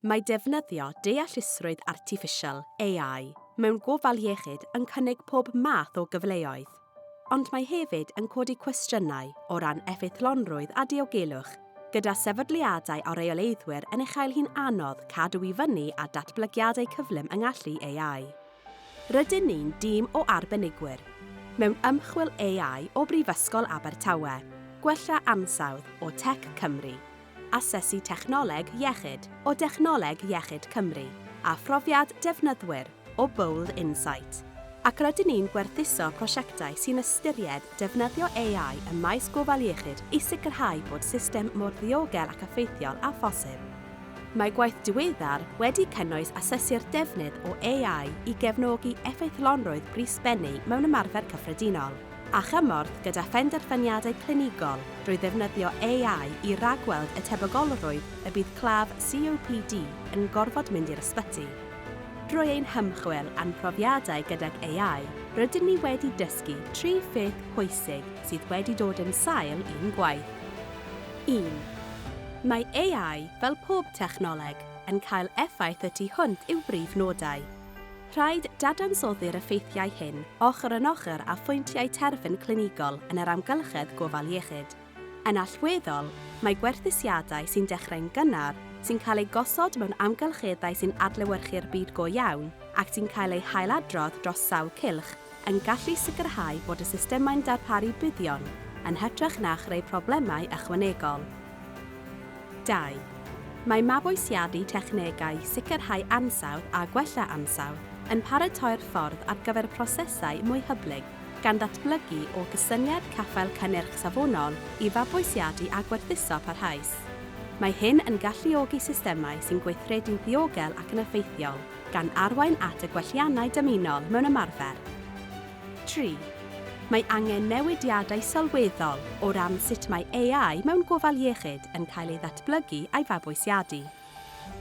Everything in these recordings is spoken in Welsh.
Mae defnyddio deallusrwydd artiffisial, AI, mewn gofal iechyd yn cynnig pob math o gyfleoedd, ond mae hefyd yn codi cwestiynau o ran effeithlonrwydd a diogelwch, gyda sefydliadau a rheoleiddwyr yn ei chael hi'n anodd cadw i fyny â datblygiadau cyflym yng ngallu AI. Rydyn ni'n dîm o arbenigwyr mewn ymchwil AI o Brifysgol Abertawe, Gwella Ansawdd o Tech Cymru, Asesu Technoleg Iechyd o Dechnoleg Iechyd Cymru a Phrofiad Defnyddwyr o Bold Insight, ac rydyn ni'n gwerthuso prosiectau sy'n ystyried defnyddio AI ym maes gofal iechyd i sicrhau bod system mor ddiogel ac effeithiol â phosib. Mae gwaith diweddar wedi cynnwys asesu'r defnydd o AI i gefnogi effeithlonrwydd brys bennu mewn ymarfer cyffredinol a chymorth gyda phenderfyniadau clinigol drwy ddefnyddio AI i ragweld y tebygolrwydd y bydd claf COPD yn gorfod mynd i'r ysbyty. Drwy ein hymchwil a'n profiadau gydag AI, rydyn ni wedi dysgu tri pheth pwysig sydd wedi dod yn sail i'n gwaith. Un. Mae AI, fel pob technoleg, yn cael effaith y tu hwnt i'w brif nodau. Rhaid dadansoddi'r effeithiau hyn ochr yn ochr â phwyntiau terfyn clinigol yn yr amgylchedd gofal iechyd. Yn allweddol, mae gwerthusiadau sy'n dechrau'n gynnar, sy'n cael eu gosod mewn amgylcheddau sy'n adlewyrchu'r byd go iawn ac sy'n cael eu hailadrodd dros sawl cylch, yn gallu sicrhau bod y systemau'n darparu buddion yn hytrach na chreu problemau ychwanegol. Dau, mae mabwysiadu technegau sicrhau ansawdd a gwella ansawdd yn paratoi'r ffordd ar gyfer prosesau mwy hyblyg gan ddatblygu o gysyniad caffael cynnyrch safonol i fabwysiadu a gwerthuso parhaus. Mae hyn yn galluogi systemau sy'n gweithredu'n ddiogel ac yn effeithiol. gan arwain at y gwelliannau dymunol mewn ymarfer. Tri, mae angen newidiadau sylweddol o ran sut mae AI mewn gofal iechyd yn cael ei ddatblygu a'i fabwysiadu.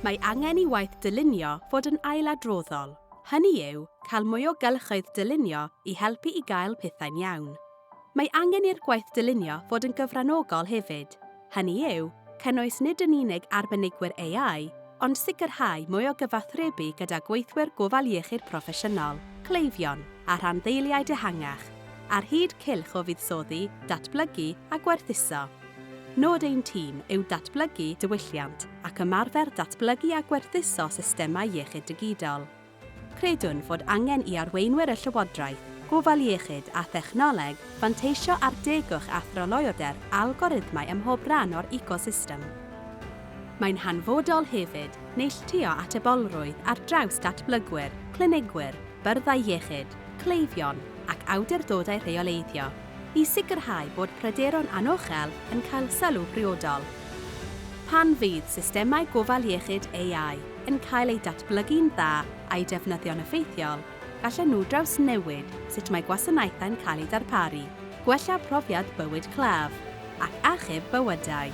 Mae angen i waith dylunio fod yn ailadroddol, hynny yw, cael mwy o gylchoedd dylunio i helpu i gael pethau'n iawn. Mae angen i'r gwaith dylunio fod yn gyfranogol hefyd, hynny yw, cynnwys nid yn unig arbenigwyr AI, ond sicrhau mwy o gyfathrebu gyda gweithwyr gofal iechyd proffesiynol, cleifion, a rhanddeiliaid ehangach, ar hyd cylch o fuddsoddi, datblygu a gwerthuso. Nod ein tîm yw datblygu diwylliant ac ymarfer datblygu a gwerthuso systemau iechyd digidol. Credwn fod angen i arweinwyr y Llywodraeth, gofal iechyd a thechnoleg fanteisio ar degwch a thryloywder algorithmau ym mhob rhan o'r ecosystem. Mae'n hanfodol hefyd neilltuo atebolrwydd ar draws datblygwyr, clinigwyr, byrddau iechyd, cleifion ac awdurdodau rheoleiddio i sicrhau bod pryderon anochel yn cael sylw priodol. Pan fydd systemau gofal iechyd AI, yn cael eu datblygu'n dda a'u defnyddio'n effeithiol, gallen nhw drawsnewid sut mae gwasanaethau'n cael eu darparu, gwella profiad bywyd claf, ac achub bywydau.